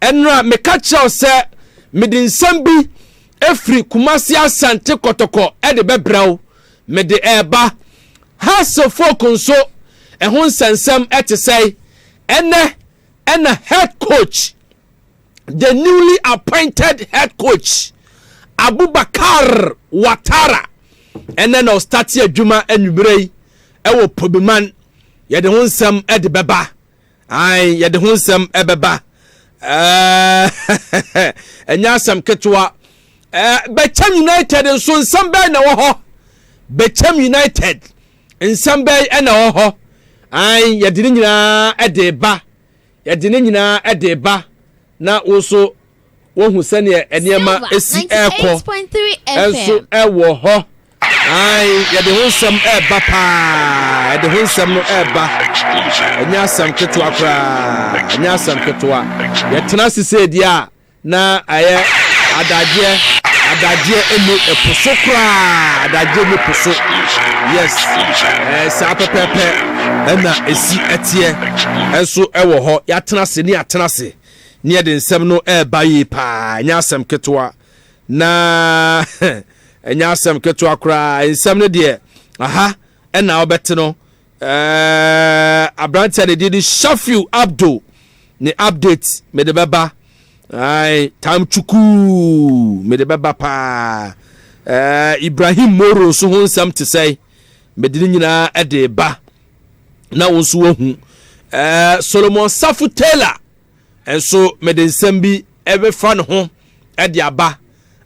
Ɛnora meka kyerɛ wo sɛ mede nsɛm bi firi Kumasi Asante Kɔtɔkɔ de bɛbrɛ wo. Mede reba. Hassle folk nso, ɛho nsɛnsɛm te sɛn? Ɛnnɛ na head coach, the newly appointed head coach, Abubakar Watara, ɛnnɛ na ɔstate adwuma anwummerɛ yi wɔ Pobiman. Yɛde ho nsɛm de bɛba. Ae, yɛde ho nsɛm bɛba. Ɛɛ, ɛnyɛ asɛm ketewa. Ɛɛ, Bɛkyɛm United nso nsɛm bɛn na ɛwɔ hɔ? Bɛkyɛm United nsɛm bɛn na ɛwɔ hɔ? Ae, yɛde ne nyinaa de ba. Yɛde ne nyinaa de ba. Na wo nso wohu sɛdeɛ nneɛma si ɛrekɔ nso ɛwɔ hɔ ae yɛde ho nsɛm ɛreba paa yɛde ho nsɛm no ɛreba ɛnyɛ asɛm ketewa koraa ɛnyɛ asɛm ketewa yɛtena ase sɛ deɛ a na ɛyɛ adagyeɛ adagyeɛ ɛmu ɛpo so koraa adagyeɛ mu po so yes ɛɛ saa pɛpɛɛpɛ ɛna esi ɛteɛ ɛnso ɛwɔ hɔ yɛatena ase ne yɛatena ase. ne yɛde nsɛm no ɛreba yie paa ɛnyɛ asɛm ketewa na ɛnyɛ asɛm ketewa koraa nsɛm no deɛ aha ɛna wobɛte no ɛɛ aberanteɛ ne deɛ de shafiu abdo ne update mede bɛba ae tam chukuu mede bɛba paa ɛɛ ibrahim moro nso ho nsɛm te sɛe mede ne nyinaa ɛde ba na wo nso woahu eh, solomon safo taylor nso mede nsɛm bi ɛbɛfa ne ho ɛde aba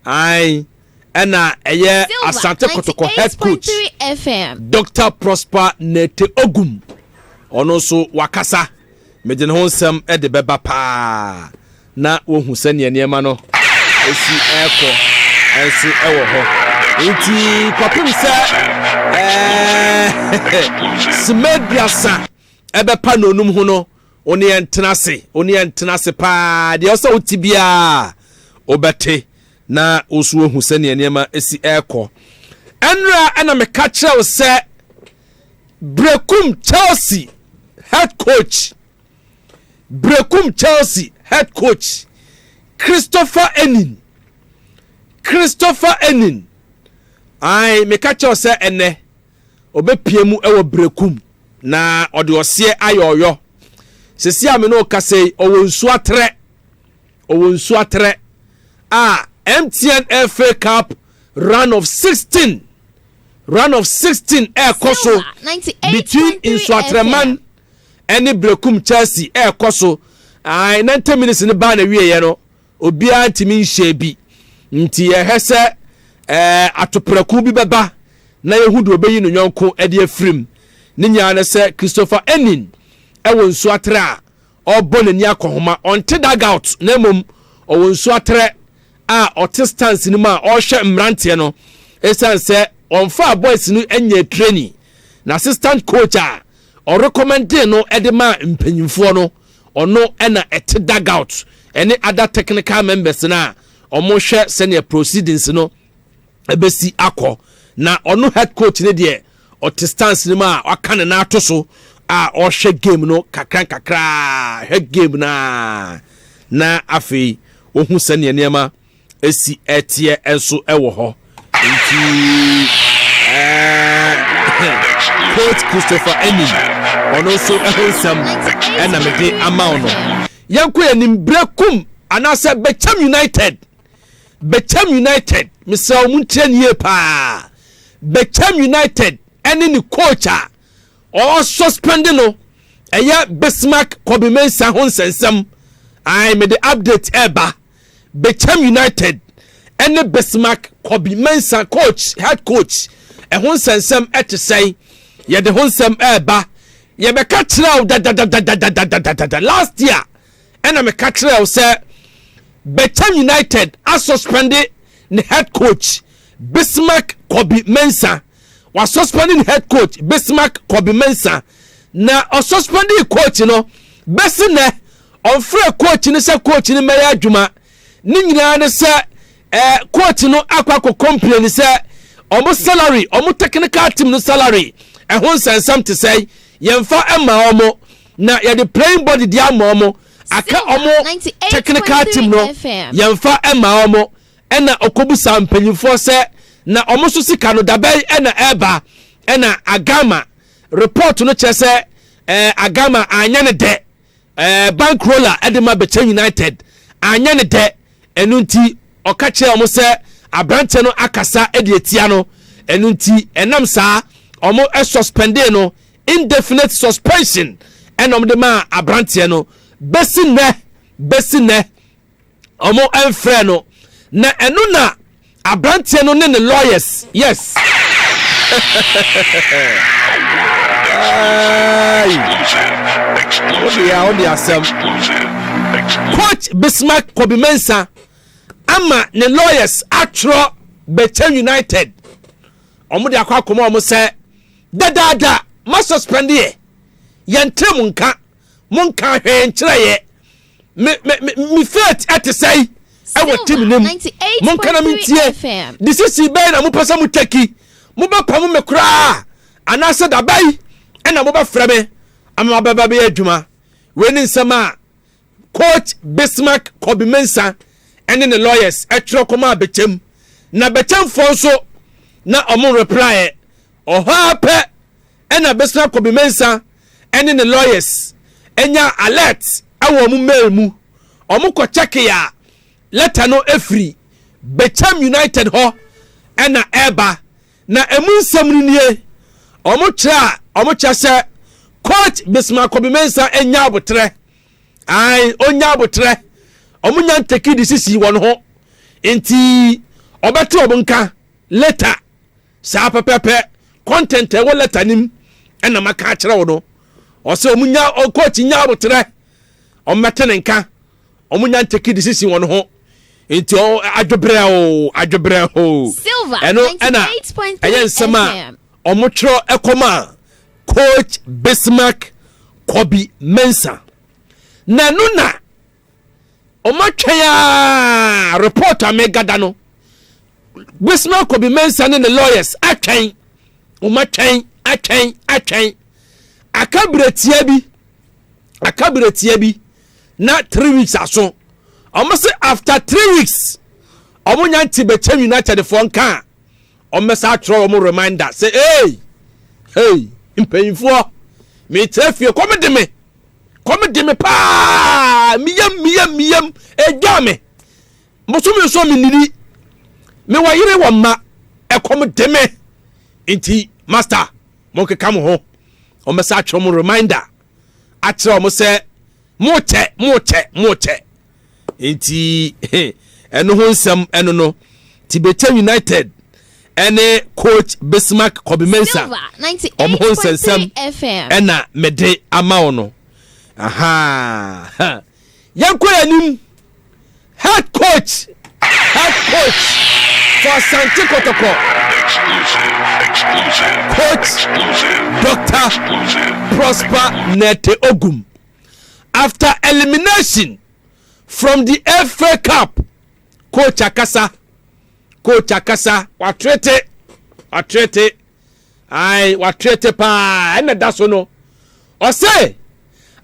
an ɛna ɛyɛ asante kɔtɔkɔ head coach dr prosper nete ogum ɔno nso wakasa mede ne ho nsɛm ɛde bɛba paa na wohu sɛnea nneɛma no si rekɔ nso wɔ hɔ nti kɔpem sɛ simaduasa ɛbɛpa n'onum ho no wo ne yɛntena ase wo ne yɛntena ase paa deɛ ɔsɛ wote biara wobɛte na wo nso wohu sɛnea nneɛma si rekɔ ɛnora ɛna meka kyerɛ wo sɛ brekum chelsea head coach Berekum Chelsea head coach Christopher Enin Christopher Enin ae meka kyɛw sɛ ɛnɛ ɔbɛpia mu wɔ Berekum na ɔde ɔseɛ ayɛ ɔyɔ sɛsi a me ne ɔkasa yi ɔwɔ nsu atrɛ ɔwɔ nsu atrɛ a MTN FA Cup run of 16 run of 16 ɛrekɔ so between Nsuatreman ɛne Berekum Chelsea ɛrekɔ so, ae 90 minutes no baa n'awieeɛ no, obiara ntumi nhyɛɛ bi. Nti yɛhwɛ sɛ ɛɛ atoprako bi bɛba na yɛhu deɛ ɔbɛyi no yɔnko de afirim. Ne nyinaa no sɛ Christopher Enin ɛwɔ nsuaterɛ a ɔrebɔ n'ani akɔhoma. Ɔnte dugout na mmom ɔwɔ nsuaterɛ a ɔte stance no mu a ɔrehwɛ mmeranteɛ no ɛsiane sɛ ɔmfaa boys no nyɛ training. N'assistant coach a Ɔrekɔmɛndee no de maa mpanyimfoɔ no, ɔno na ɛte Dugout ne other technical members no a wɔhwɛ sɛdeɛ proceedings no bɛsi akɔ. Na ɔno head coach no deɛ ɔte stance no mu a waka ne nan ato so a ɔrehwɛ game no kakra nkakra, hwɛ game no a na afei ɔhu sɛdeɛ nneɛma si ɛteɛ nso wɔ hɔ nti coach christopher enim ɔno nso ho nsɛm ɛna mede ama wo no yɛnkɔ yɛ nim berɛ kum anaasɛ bɛkyɛm united bɛkyɛm united mesrɛ wo mu nkyerɛ nie paa bɛkyɛm united ɛne ne coach a ɔsuspende no ɛyɛ bismark kɔbimensa ho nsɛnsɛm ai mede update ɛba eh, Bechem United ne Bismarck Kobi Mensah coach head coach ɛho nsɛnsɛm ɛte sɛn yɛde ho nsɛm ɛɛba yɛbɛka kyerɛ wo dadadadadadadadada last year ɛna meka kyerɛ wo sɛ Bechem United asuspende ne head coach Bismarck Kobi Mensah Wɔasuspɛnde ne head coach Bismarck Kobe Mensah, na ɔsuspɛndee coach no bɛsi nnɛ. Ɔmfrɛɛ coach no sɛ coach no mmɛyɛ adwuma. Ne nyinaa ne sɛ eh, coach no akɔ akɔ complain sɛ ɔmo salary, ɔmo technical team no salary, ɛho nsɛnsɛm te sɛn, yɛmfa ɛma ɔmo na yɛde playing body de ama ɔmo. Aka ɔmo technical team no, yɛmfa ɛma ɔmo. Ɛna ɔkɔbisaa mpanyimfoɔ sɛ na wɔn nso sika no dabɛn na ɛreba. Ɛna Agama report no kyerɛ sɛ ɛɛ Agama anyɛ ne dɛ. Ɛɛ bankroller de ma Bɛkyɛ United anyɛ ne dɛ. Ɛno nti ɔka kyerɛɛ wɔn sɛ aberanteɛ no akasa de atia no. Ɛno nti ɛnam saa wɔn suspendee no indefinite suspension ɛna wɔn de maa aberanteɛ no bɛsi nnɛ bɛsi nnɛ. wɔmfrɛɛ no na ɛno na aberanteɛ no ne ne lawyers yes coach bismark kobi mensa ama ne lawyers atwerɛ bɛkyɛ united wɔn de akɔ akɔmɔ wɔn sɛ dadaada ma suspend yɛ yɛn tiri mu nka mo nka hwɛɛ nkyerɛ yɛ me me me me faith ɛte sɛn ɛwɔ team ne mu mo nka na mentie decision bɛyɛ na mopɛ sɛ mo tɛki mobɛpam me koraa anaasɛ dabai ɛna mobɛfrɛ me ama mabɛba bɛyɛ adwuma wei ne nsɛm a coach bismark kobi mensa ɛne ne lawyers ɛtwerɛ kɔma abɛkyɛm na bɛkyɛmfoɔ nso na ɔmo reply ɔhɔ ara pɛ ɛna bismark kobi mensa ɛne ne lawyers nyaa alert ɛwɔ ɔmo mail mu, ɔmo kɔ checke a letter no ɛfiri Becham United hɔ ɛna ɛɛba na ɛmu nsɛm no nie, ɔmo kyerɛ a ɔmo kyerɛ sɛ Coach Bismarck Kobe-Mensah ɛnya aboterɛ, ae ɔnya aboterɛ, ɔmo nya ntake disisi wɔ ne ho nti ɔbɛte ɔmo nka later. Saa pɛpɛɛpɛ, content a ɛwɔ letter no mu na maka akyerɛ wo no. Ɔsɛ wɔn nya, coach nya aboterɛ, wɔn mɛte ne nka, wɔn nya ntake decision wɔn ho. Nti ɔ adwebrɛ o, adwebrɛ o. Ɛno ɛna ɛyɛ nsɛm a wɔn twerɛ ɛkɔma coach Bismarck Kobi Mensah. Na ɛno na Ɔma twɛn aa report a mega da no. Wisma Kobi Mensah ne ne lawyers atwɛn. Ɔma twɛn atwɛn atwɛn. Aka bere tia bi. Aka bere tia bi. Na three weeks aso. Ɔmo se after three weeks. Ɔmo nya nti bɛkyɛ United foɔ nka a. Ɔmo bɛsa atwerɛ ɔmo reminder sɛ hey hey mpanyinfoɔ mekyerɛ fie kɔm de me. kɔm de me paa meyam meyam meyam ɛdwa me bosome nso menini mewɔ yere wɔ mma ɛkɔm de me nti master monkeka mo ho ɔmɛsa atwerɛ mo reminder akyerɛ ɔmo sɛ mokyɛ mokyɛ mokyɛ nti ɛno ho nsɛm ɛno no Tibetan United ɛne coach Bismarck Kɔbimensa ɔmo ho nsɛnsɛm ɛna mede ama wo no yɛnkɔ yɛn anim head coach head coach for Asante Kɔtɔkɔ coach Dr. Prosper Nete Ogum. after elimination from the FA Cup, coach akasa, coach akasa, watrete, watrete, aye, watrete paa, ɛna da so no, ɔse,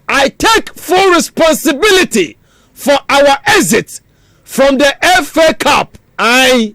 I take full responsibility for our exit from the FA Cup, aye,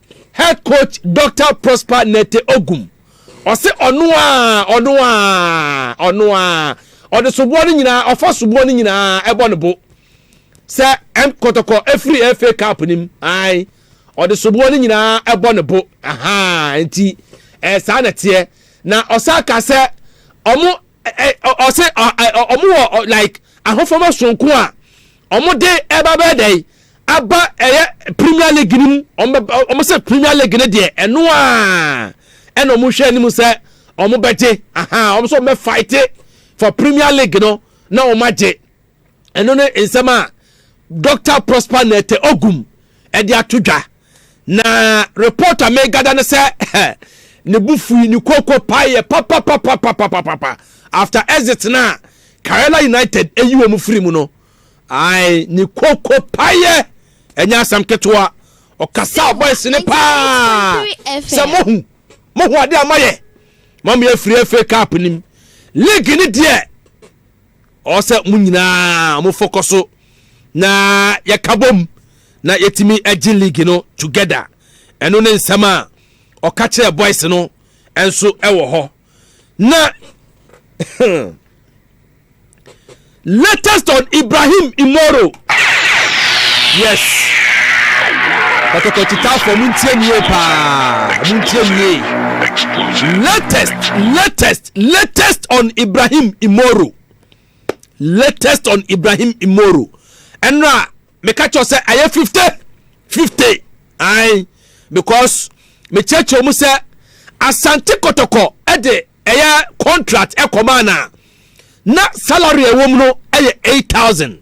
Head coach Doctor Prosper Nete Ogum, ɔse ɔno aa, ɔno aa, ɔno aa, ɔde soboɔ no nyinaa, ɔfa soboɔ no nyinaa ɛbɔ ne bo sɛ M Kɔtɔkɔ ɛfiri FA Cup no mu, ae, ɔde soboɔ no nyinaa ɛbɔ ne bo, ahaa, nti ɛyɛ saa na teɛ, na ɔsan ka sɛ ɔmo, ɔse ɔmo wɔ like ahofama soronko a Wɔn de ɛba bɛyɛ dɛ aba ɛyɛ premier league no mu wɔn bɛ wɔn sɛ premier league no deɛ ɛno a ɛna wɔn hwɛ anim sɛ wɔn bɛgye aha wɔn sɛ wɔn bɛ fight for premier league no na wɔn agye ɛno ne nsɛm a dr prosper nɛɛtɛ ogum ɛde ato dwa. Na report a megada ne sɛ ne bo fui, ne koko paeɛ papapapapapapa after exit no a Karela United ayi wɔn firi mu no. Ae, ne koko paeɛ, ɛnyɛ asɛm ketewa. Ɔkasaa boys no paa sɛ mohu, mohu adeɛ a moayɛ. Moameyɛ afiri FA Cup no mu. League no deɛ. Ɔwɔ sɛ mo nyinaa mo fo kɔ so na yɛ ka bom na yɛ tumi gye league no together. Ɛno ne nsɛm a ɔka kyerɛɛ boys no nso wɔ hɔ. Na latest on Ibrahim Imoro. Yes. Kɔtɔkɔ kyitaafo mo ntie nie paa. Mo ntie nie. Latest, latest. Latest on Ibrahim Imoro Latest on Ibrahim Imoro ɛno a meka kyerɛ sɛ ayɛ fifty fifty ae because mekyerɛkyerɛ mu sɛ Asante Kɔtɔkɔ ɛde ɛyɛ contract ɛkɔmaa na na salary ɛwɔ mu no ɛyɛ eight thousand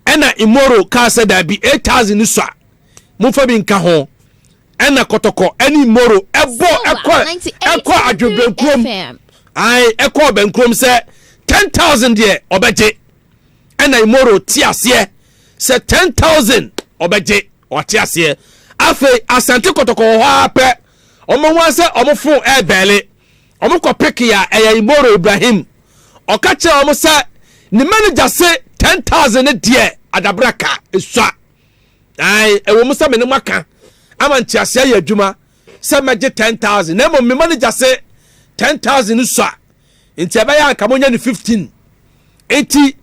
ɛna Imoro kaa sɛ daabi eight thousand no sua mofa bi nka ho ɛna kɔtɔkɔ ɛne moro ɛbɔ ɛkɔ ɛkɔ adwo bɛnkurom ae ɛkɔ bɛnkurom sɛ ten thousand deɛ ɔbɛgye ɛna imoro te aseɛ sɛ ten thousand ɔbɛgye ɔte aseɛ afei asante kɔtɔkɔ wɔ hɔ ara pɛ wɔn ho asɛ wɔn fon ɛɛbɛɛle wɔn kɔ peke a ɛyɛ imoro ibrahim ɔka kyerɛ wɔn sɛ ne manager se ten thousand ne deɛ adabra ka esua. Ae, ɛwɔ mu sɛ me ne mo aka ama ntease ayɛ adwuma sɛ mɛgye 10,000, na mmom me manager se 10,000 no sua, nti ɛbɛyɛ a anka monya no 15. Nti,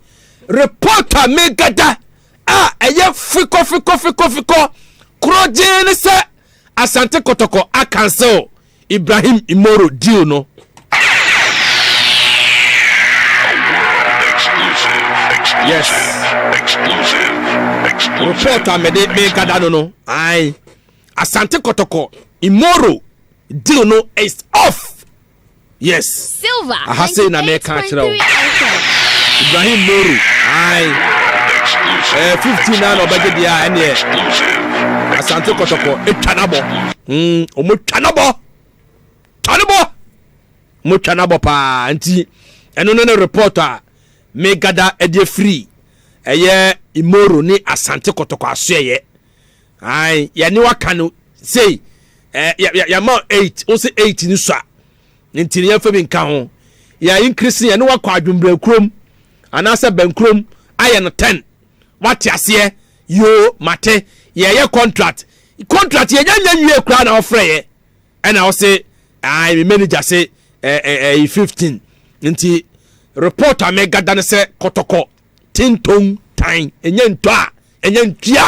report a megada a ɛyɛ fikɔfikɔfikɔfikɔ korɔgyee ne sɛ Asante Kɔtɔkɔ akansil Ibrahim Imoro deal no. Yes. Report a mede mekada no no. Aye. Asante Kotoko Imoro deal no is off. Yes. Silva, Aha sei na meka akyerɛ wo. 98.3 FM. Ibrahim Moru, ae. Eh, 15 na na ɔbɛgye deɛ a, ɛneɛ. Asante Kɔtɔkɔ, ɛtwa n'abɔ. Mm, ɔmo twa n'abɔ. Twa n'abɔ. Ɔmo twa n'abɔ paa. Nti, ɛno ne ne report a, me gada ɛde afiri. Ɛyɛ Imoro ne Asante Kɔtɔkɔ asoɛyɛ. Ae, yɛne waka no, sei, eh, yɛ, yɛ, yɛma 8, wo se 8 ne sua. Ne ntini yɛmfa bi nka ho. Yɛn increase no yɛne wakɔ adwembrɛ kurom anaasɛ bɛn kurom ayɛ no tɛn. Wate aseɛ? Yoo, mate. Yɛɛyɛ contract. Contract yɛnya nyɛ nwie koraa na ɔfrɛ yɛ. Ɛna ɔse, ae me manager se ɛɛ ɛɛ ɛyi fifteen. Nti report a mɛgada ne sɛ kɔtɔkɔ. Tinton tan ɛnyɛ ntɔ a ɛnyɛ ntua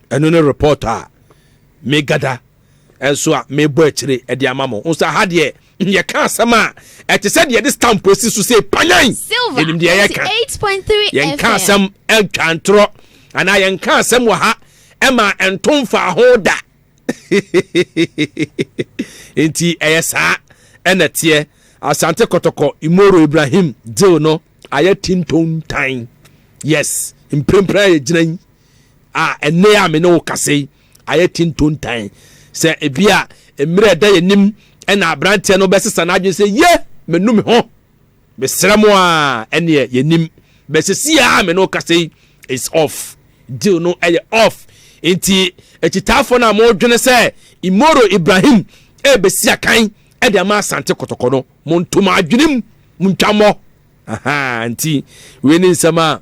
ɛno ne report a megada ɛnso a mebɔ akyire ɛde ama mo nso aha deɛ yɛka asɛm a ɛte sɛ deɛ de stamp asi so sɛ panyan yɛnim deɛ yɛka yɛnka asɛm ɛntwa ntorɔ anaa yɛnka asɛm wɔ ha ɛma ɛnto mfaa ho da nti ɛyɛ saa ɛna teɛ asante kɔtɔkɔ imoro ibrahim deal no ayɛ tintontan yes mprempren a yɛgyina yi a ɛnɛ a me ne wo kase yi ayɛ tintontan sɛ ebi a mmerɛ ɛda yɛnim ɛna aberanteɛ no bɛsesa n'adwene sɛ ye menu me ho Mesrɛ mo aa ɛneɛ yɛnim but sesii aa me ne wo kasa yi is off deal no ɛyɛ off nti akyitaafoɔ no a mo dwene sɛ Imoro Ibrahim ɛɛbɛsi akan ɛde ama Asante Kɔtɔkɔ no mo nto mo adwenem mo ntwa mmɔ ahaa nti wei ne nsɛm a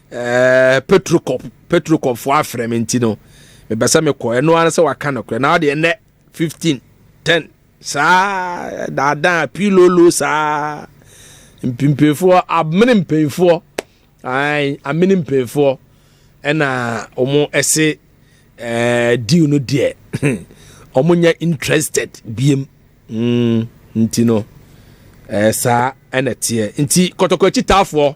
ɛɛ petrocop petrocop fo afrɛ me nti no mepɛ sɛ mekɔ ɛno ara sɛ waka no korɛ na ɔde ɛnɛ fifteen ten saa daadaa pilolo saa mpimpinfoɔ amene mpanyinfoɔ ayi amene mpanyinfoɔ ɛna wɔn ɛse ɛɛ deal no deɛ wɔn nyɛ interested biem mm nti no ɛɛ saa ɛna teɛ nti kɔtɔkɔ akyitaafoɔ.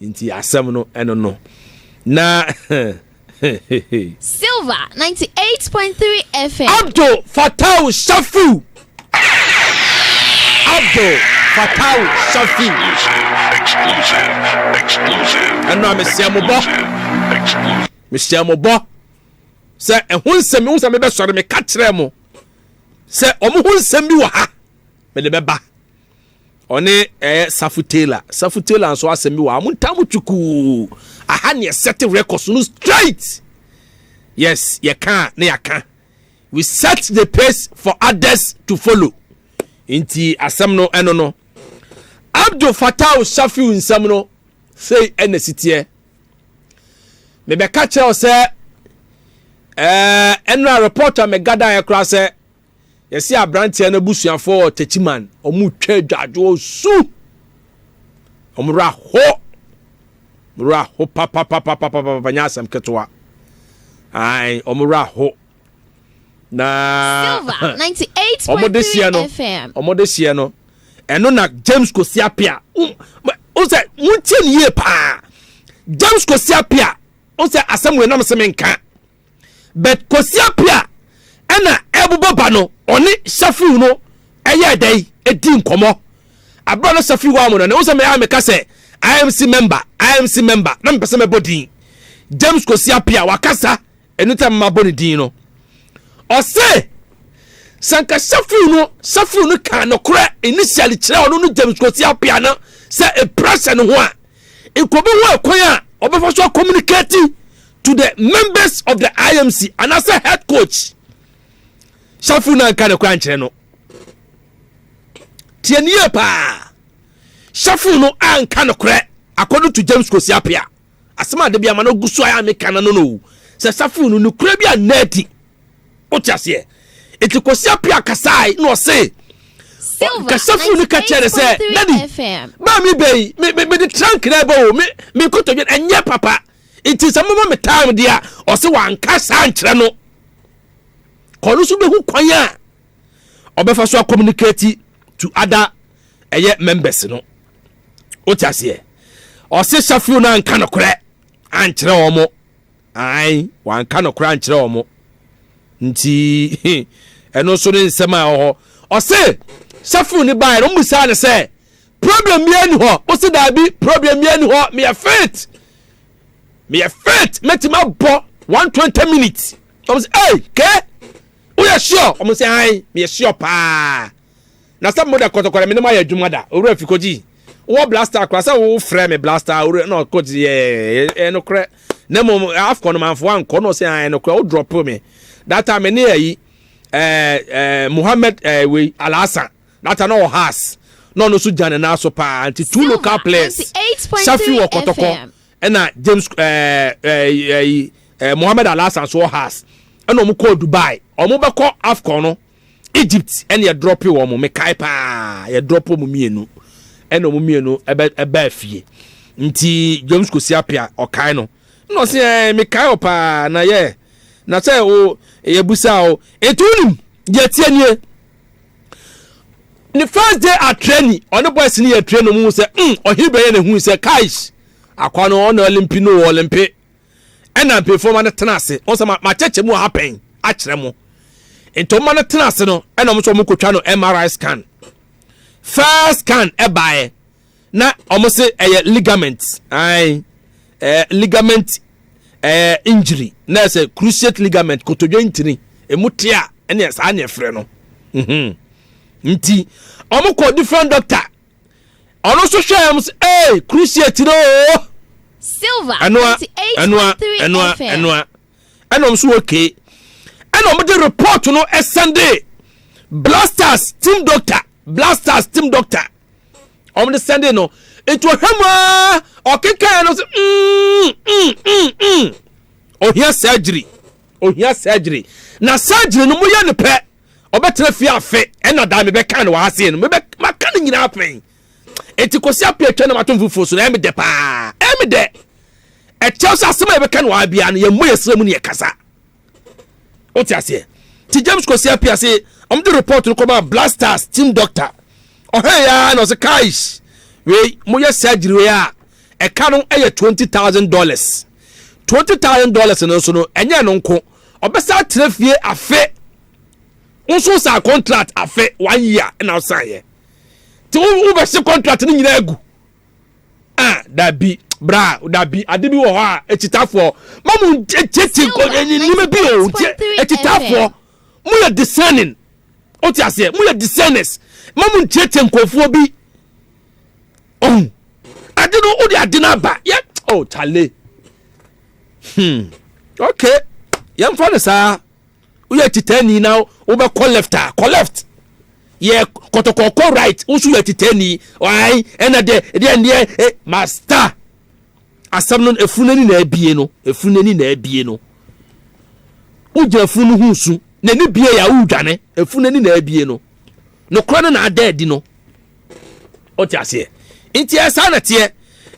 Nti asɛm no ɛno no na Silver 98.3 FM. Abdul Fattau Shafiu. Abdul Fattau Shafiu. Ɛno a mehyɛ mo bɔ. Mehyɛ mo bɔ. Sɛ ɛho nsɛm ho nsɛm bɛsɔre meka kyerɛ mo. Sɛ wɔn ho nsɛm bi wɔ ha mede bɛba. ɔne ɛyɛ safu taylor safu taylor nso asɛm bi wɔ amo ntam twukuu aha ne ɛsɛte records no straight yes yɛka ne yɛaka we set the pace for others to follow nti asɛm no ɛno no abdul fatah shafiu nsɛm no sei ɛna siteɛ mebɛka kyerɛ wo sɛ ɛɛ ɛnura report a megadaeɛ koraa sɛ yɛse abranteɛ no abusuafoɔ wɔ Techiman ɔmo twa adwadwoɔ su ɔmo werɛ aho ɔmo werɛ aho papapapapapa nyɛ asɛm ketewa ae ɔmo werɛ aho na ɔmo de seɛ no ɔmo de seɛ no ɛno na James Kwesi Appiah o sɛ mo tie ne yie paa James Kwesi Appiah o sɛ asɛm wei nam se me nka But Kwasi Appiah a ɛna ɛrebobɔ ba no, ɔne Shafiu no yɛɛ dɛn dii nkɔmmɔ. Abere a na Shafiu wɔ amono no, ɛho sɛ mɛ a meka sɛ IMC member, IMC member, na mepɛ sɛ mɛbɔ din. James Kwasi Appiah wakasa, ɛno nti a mema bɔ ne din no. Ɔse, sɛ nka Shafiu no, Shafiu no kaa nokorɛ initially kyerɛ ɔno no James Kwasi Appiah no sɛ ɛpira hyɛ ne ho a, nkurɔbi ho ɛkwan a ɔbɛfa so akɔmunikati to the members of the imc anaasɛ head coach safo no anka no kora nkyerɛ no tiɛnie paa safo no anka no korɛ according to james kosiapia asɛm a dabi ama no gu so a meka no no no sɛ safo no nokorɛ bi anna adi wote aseɛ ɛti kosiapia kasae na ɔse kasafo no ka kyerɛ ne sɛ dadi baa me bɛyi mede trank na ɛbɛ o mekɔtɔdwen ɛnyɛ papa nti sɛ moma me time deɛ a ɔse wanka saa nkyerɛ no kɔ no so bɛhu kwan a ɔbɛfa so communicate to other ɛyɛ members no wote aseɛ ɔse shafio no anka nokorɛ ankyerɛ wɔ mo ae wanka nokorɛ ankyerɛ wɔ mo nti ɛno nso ne nsɛm a ɔhɔ ɔse shafio no baɛ no mmusaa ne sɛ Problem biara ni hɔ wo se daabi problem biara ni hɔ meyɛ fit meyɛ fit mɛtumi abɔ one twenty minutes wɔn sɛ ɛy kɛ woyɛ sure wɔn sɛ ayi meyɛ sure paa na sɛ mo de kɔtɔkɔrɔ mi ne mo ayɛ adwuma da owurɛ fi kɔgyi wɔ blaster kora sɛ wo frɛ mi blaster owurɛ na ɔkɔgyi yɛ ɛyɛ no korɛ na mo afɔ no manfo ankɔ na ɔsɛ ayi no korɛ wo drop mi data mi ne ayi ɛɛ ɛɛ muhammed ɛɛ wei alaasa. Nata na ɔwɔ Haas na ɔno nso gya ne nan so paa nti two local players Shafi wɔ Kɔtɔkɔ ɛna James ɛɛ eh, ɛɛ eh, ɛɛ eh, ɛɛ Mohammed Alasan so wɔ Haas ɛna wɔn kɔɔ Dubai wɔn bɛkɔ AFCON no Egypt ɛna yɛ drop wɔn mekae paa yɛ drop wɔn mmienu ɛna wɔn mmienu ɛbɛ ɛbɛɛ fie nti James Kwesi Appiah ɔkae no ɛna ɔsi ɛɛ mekae wɔ paa na yɛ na sɛ o yɛ busa o etu nim yɛ tie nie. ne first day atrɛ ni ɔne boys ne yɛ trɛ no mu sɛ mm ɔhe bɛyɛ na hui sɛ kais akwa no ɔna ɔlimpi no wɔ ɔlimpi ɛna mpanyinfoɔ ma no tena ase wɔn sɛ ma kyɛkyɛ mu ɔha pɛn akyerɛ mo nti wɔn ma no tena ase no ɛna wɔn nso wɔn kotwa no MRI scan first scan ɛbaeɛ. na wɔn se ɛyɛ ligament ae ɛɛ ligament ɛɛ injury na ɛsɛ cruciate ligament kotodwe ntini emu te a ɛne saa ne ɛfrɛ no mhm. nti wɔn kɔ different doctor ɔno nso hwɛ ɛm sɛ ee cruciate no oo silver ɛnoa ɛnoa ɛnoa ɛnoa ɛna wɔn nso wɔ kee ɛna wɔn de report no ɛsɛnde blasters team doctor blasters team doctor wɔn de sɛnde no nti ɔhwɛ mu aa ɔkekaeɛ no sɛ mm, mm, mm, mm. ohia surgery ohia surgery na surgery no moyɛ no pɛ ɔbɛtena fie afe ɛna daa mebɛka no wɔ aseɛ no mebɛka no nyinaa pɛn enti kɔsi apɛ atwa no matom foforɔ so na ɛmedɛ paa ɛmedɛ ɛkyɛw sɛ asɛm a yɛbɛka no wɔ abia no yɛmmɔ yɛsrɛ mu ne yɛkasa wote aseɛ nti james kwasi apia se ɔmde report no kɔma blasters team doctor ɔhɛn ya na ɔse kais wei moyɛ surgery wei a ɛka no ɛyɛ twenty thousand dollars twenty thousand dollars no nso no ɛnyɛ no nko ɔbɛsa atena fie afe nso sa contract afe one year na ɔsan yɛ nti wobɛhye contract no nyinaa agu ah dabi bra dabi ade bi wɔ hɔ a akyitafoɔ ma mo ntiati nneɛma bi o nti akyitafoɔ mo yɛ discerning o ti aseɛ mo yɛ discerners ma mo ntiati nkurɔfoɔ bi ɔn ade no o de ade no aba yɛ o tale hmm okay yɛn fa no saa. woyɛ titani na wobɛkɔ left a kɔ left yɛ kɔtɔkɔ kɔ right woso yɛ titani ɔan ɛna dɛ deɛ deɛ eh, master asɛm no efunu n'ani na abie no efunu n'ani na abie no wogyina funu no ho su n'ani bie yɛ a wodwane efunu n'ani na abie no nokora no na ada adi no ɔte aseɛ nti ɛsaa na teɛ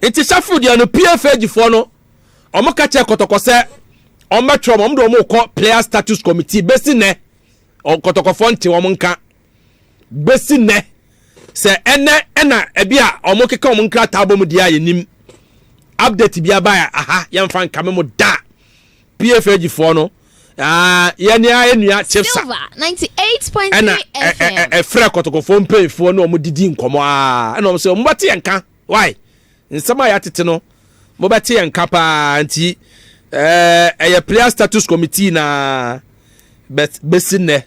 nti safo deɛ no pfagyifoɔ no wɔn ka kyerɛ kɔtɔkɔ sɛ wɔn bɛtwerɛ wɔn de wɔn kɔ player status committee bɛsi nɛ kɔtɔkɔfoɔ nte wɔn nka bɛsi nɛ sɛ ɛnɛ ɛna ɛbi a wɔn keka wɔn nkrataa bɔ mu deɛ a yɛnim update bi aba a aha yɛmfa nka me mo da pfg foɔ no Ah, yɛne ayɛ nua chipsa ɛna ɛfrɛ kɔtɔkɔfoɔ mpanyinfoɔ ne wɔn didi nkɔmɔ aa ah, ɛna wɔn sɛ wɔn bɛte yɛn ka why. Nsɛm a yɛatete no, mobɛte yɛn nka paa nti, ɛyɛ Player Status Committee na but bɛsi nnɛ,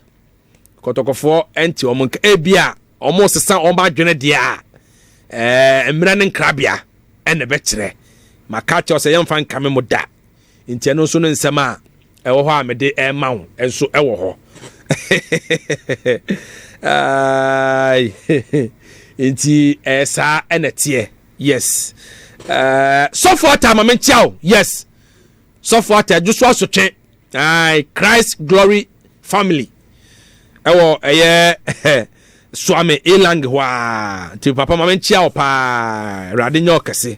kɔtɔkɔfoɔ ɛnte wɔn nka. Ebi a wɔresesa wɔn adwene deɛ a, mmerɛ ne nkrabea ɛna ɛbɛkyerɛ. Maka akyerɛ sɛ yɛmfa nkame mo da. Enti ɛno nso ne nsɛm a ɛwɔ hɔ a mede rema wo nso wɔ hɔ. Enti ɛyɛ saa ɛna teɛ. Yes. Uh, sɔfo ata ama menkyia o yes sɔfo ata adwo so asotwe ai christ glory family ɛwɔ ɛyɛ swami elang hɔ a nti papa ma menkyia o paa awurade nyɛ ɔkɛse